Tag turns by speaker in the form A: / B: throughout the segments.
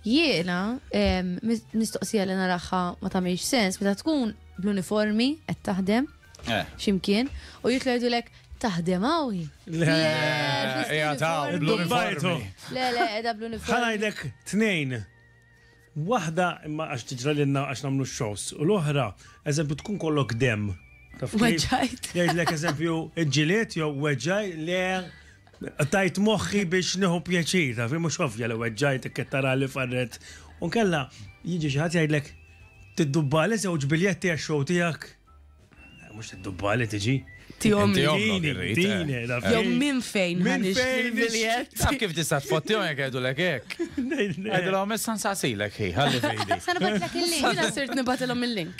A: Jiena, mistoqsija li naraħħa ma tagħmilx sens, meta tkun bl-uniformi qed taħdem eh. ximkien u jitlu jgħidulek taħdem għawi. Le,
B: jgħataw bl-uniformi. Le, le,
A: edha bl-uniformi. Ħanajdek tnejn.
C: Wahda imma għax tiġra l-inna għax namlu xows. U l-oħra, eżempju, tkun kollok dem. Weġajt.
A: Jgħidlek eżempju,
C: ġiliet jew weġaj le Tajt moħħi biex nieħu pjaċir, taf, mhux ovvja li weġġajt ikkettara li farret. U kella jiġi xi ħadd jgħidlek tiddubbali żewġ biljetti għax-show tiegħek. Eh, mhux tiddubbali tiġi. Tihom li
A: dini,
C: jew minn fejn
A: minn fejn biljett.
B: Taf kif tista' tfottihom jekk għedulek hekk. Għedulhom issa nsasilek ħi, ħalli fejdi. Sa nibatlek il-link.
A: Jiena sirt nibatilhom il-link.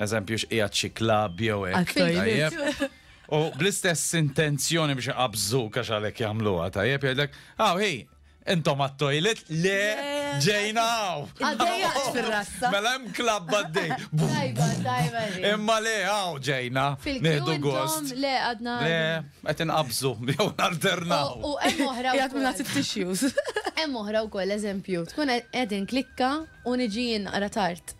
B: Eżempju x'qiegħed xi klabb jew hekk. Tajjeb. U bl-istess intenzjoni biex iqabżu għax għalhekk jagħmluha tajjeb jgħidlek, "Aw ah, ħej, intom għat-toilet le ġejna għaw. Għaddejja
A: fil-rassa. Mela hemm klabb
B: għaddej. Tajba, tajba.
A: Imma le
B: għaw ġejna. Nieħdu gost. Le għadna. Le,
A: qed
B: inqabżu jew nalternaw. U hemm oħra.
A: Jgħat minna tissues.
D: Hemm oħra
A: wkoll eżempju, tkun qegħdin klikka u niġi jinqra tard.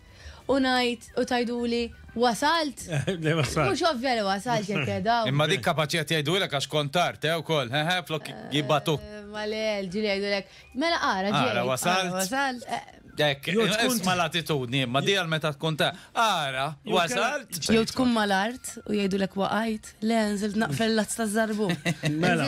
A: u ngħid u tgħiduli wasalt. Le wasalt. Mhux
C: ovvja li wasalt jekk
A: qegħda. Imma dik kapaċi qed
B: jgħidulek għax kont tard, eh, ukoll, hehe, flok jibgħatuk. Eh, ma le, ġieli
A: jgħidulek, mela ara ġej. Ara wasalt.
B: Wasalt. Eh. Dek, tkun mal-attitudni, imma di għal meta tkun ta' ara, wasalt. Jew tkun mal-art
D: u jgħidulek waqajt, le nżilt
C: naqfel
D: l-azz ta' żarbu. Mela.